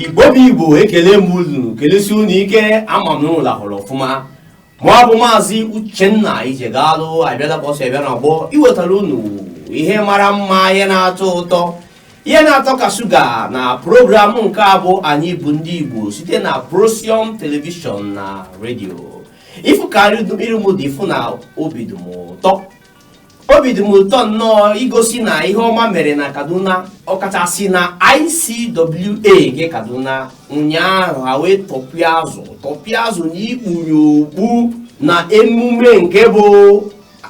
igbo bụ igbo ekele m unu kelesi unu ike ama m na unu lahụrụ ọfụma mụ bụ maazị uchenna ijegalu abịala ka o si abịa na ọgbọ iwetara unu ihe mara mma ihe na-atọ ụtọ ihe na-atọ ka shuga na program nke a bụ anyị bụ ndị igbo site na procyon telivishọn na redio ị fụ ka iru m dị ị fụ na obi dị m ụtọ obi dị m ụtọ nnọọ igosi na ihe ọma mere na kaduna ọkachasị na icwa nke kaduna ụnyaahụ ha wee tọpịa azụ tọpịa azụ na ikpunye okpu na emume nke bụ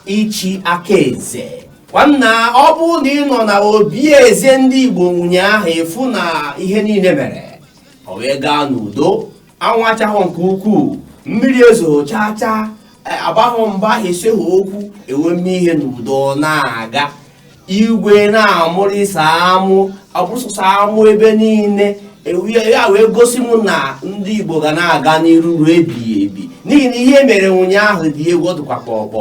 ichi aka eze nwanna ọ bụrụ na ị nọ na obi eze ndị igbo ụnyaahụ ị fụ na ihe niile mere ọ wee gaa n'udo anwụ achahụ nke ukwuu mmiri ezo chaa chaa e, agbahụ mgba eseghị okwu e wee mee ihe n'udo na-aga igwe na-amụrịsa amụ abụsụsa amụ ebe niile e, ya wee gosi m na ndị igbo ga na-aga n'iru ruo ebighị ebi n'ihi na ihe mere ụnyaahụ dị egwu ọ dịkwa kpọkpọ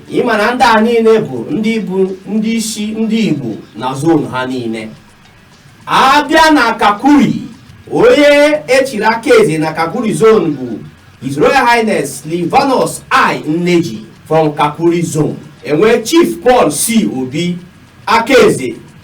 ị ma na ndị a niile bụ ndị bụ ndị isi ndị igbo na zone ha niile a bịa na kakuri onye e chiri aka eze na kakuri zone bụ his royal highness livanus i nneji from kakuri zone e nwee chief paul c obi aka eze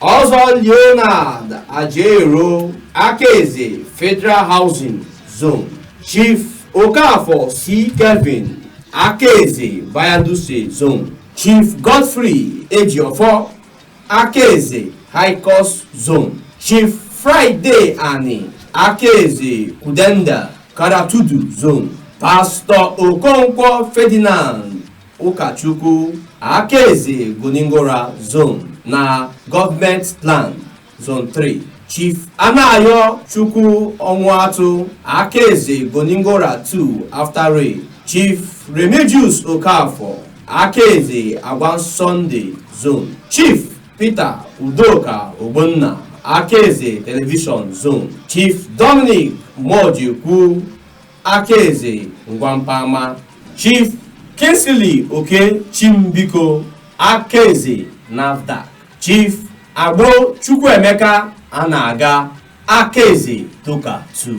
ọzọ leonard ajero aka eze federal housing zone chief okafor c kevin aka eze bayaduse zone chief godfrey ejiofor aka eze high cost zone chief friday ani aka eze kudenda karatudu zone pastọ okonkwo ferdinand Ụkachukwu Akaeze Goningora Zone na Government Land Zone 3 Chief Anayochukwu Ọnwụatụ Akaeze Goningora 2 After Rail Chief Remigius Okafor Akaeze Angwan Sunday Zone Chief Peter Udoka Ogbonna Akaeze Television Zone Chief Dominic Mojekwu Akaeze Ngwampama, Chief Kingsley Oke Chimbiko, Akaeze NAFDAC, Chief Agbo Chukwuemeka a na-aga Akaeze Toka 2.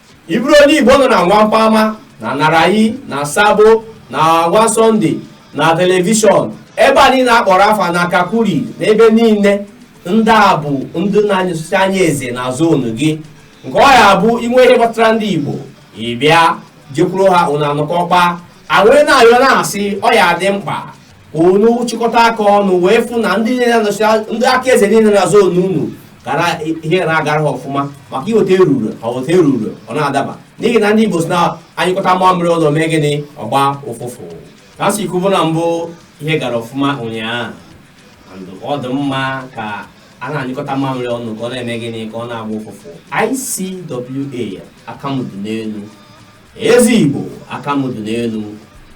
ị bụrụ onye igbo nọ na angwan pama na narayi na sabo na angwan sunday na telivishọn ebe a niile a kpọrọ afa na kakuri na ebe niile ndị a bụ ndị na-anọchisi anya eze na zone gị nke ọ ya-abụ i nwee ihe gbasara ndị igbo ị bịa jekwuru ha unu anọkọọ kpaa e wee na-ayọ na-asị ọ ya-adị mkpa unu chịkọta aka ọnụ wee fụ na ndị ndị aka eze niile na zone unu na ihe na-agara ha ọfụma maka iweta eruru ha weta eruru ọ na-adaba n'ihi na ndị Igbo sị na a nyụkọta mamịrị ọnụ o mee gịnị ọ gbaa ụfụfụ ka e si kwubu na mbụ ihe gara ọfụma ụnyaahụ ọ dị mma ka a na-anyụkọta mamịrị ọnụ ka ọ na-eme gịnị ka ọ na-agba ụfụfụ ICWA aka mụ dụ n'elu eze igbo aka mụ dụ n'elu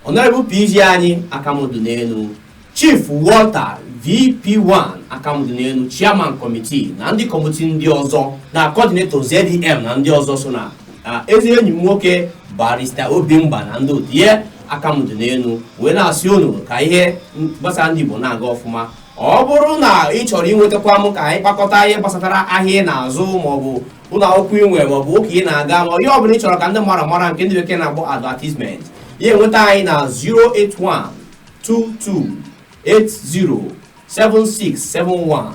honourable pg anyị aka mụ dụ n'elu chief walter vp1 aka mụ dụ n'elu chairman committee na ndị committee ndị ọzọ na coordinator zdm na ndị ọzọ so na ezi enyi m nwoke barrister obimba na ndị otu ya aka mụ dụ n'elu wee na-asị unu ka ihe gbasara ndị igbo na-aga ọfụma ọ bụrụ na ị chọrọ inwetakwa m ka anyị kpakọta ihe gbasatara ahịa ị na-azụ maọbụ ụlọ akwụkwọ ị nwere maọbụ ụka ị na-aga ma ihe ọbụla ị chọrọ ka ndị mmadụ mara nke ndị bekee na-akpọ advertisement ya enweta anyị na 08122807671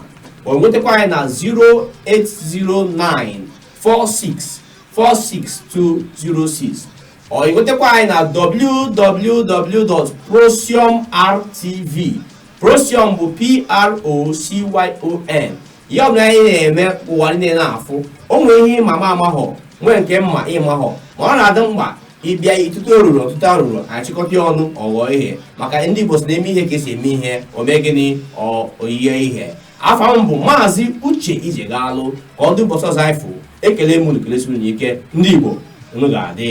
o nwetakwa anyị na 08094646206 ọ nwetakwa anyị na www.procyonrtv procyon bụ p-r-o-c-y-o-n ihe ọbụla anyị na-eme ụwa niile na-afụ o nwere ihe ị ma m amahọ nwee nke m ma ị mahọ ma ọ na-adị mkpa ị bịa ị tụta arụrụ ọ tụta arụrụ a chịkọta ọnụ ọ ghọọ ihe maka ndị Igbo sị na e mee ihe ka e si eme ihe o mee gịnị o yie ihe afa m bụ maazị Uche Ijegalụ ka ọ dị ụbọchị ọzọ anyị fụ ekele m unu kelesiri unu ike ndị Igbo unu ga-adị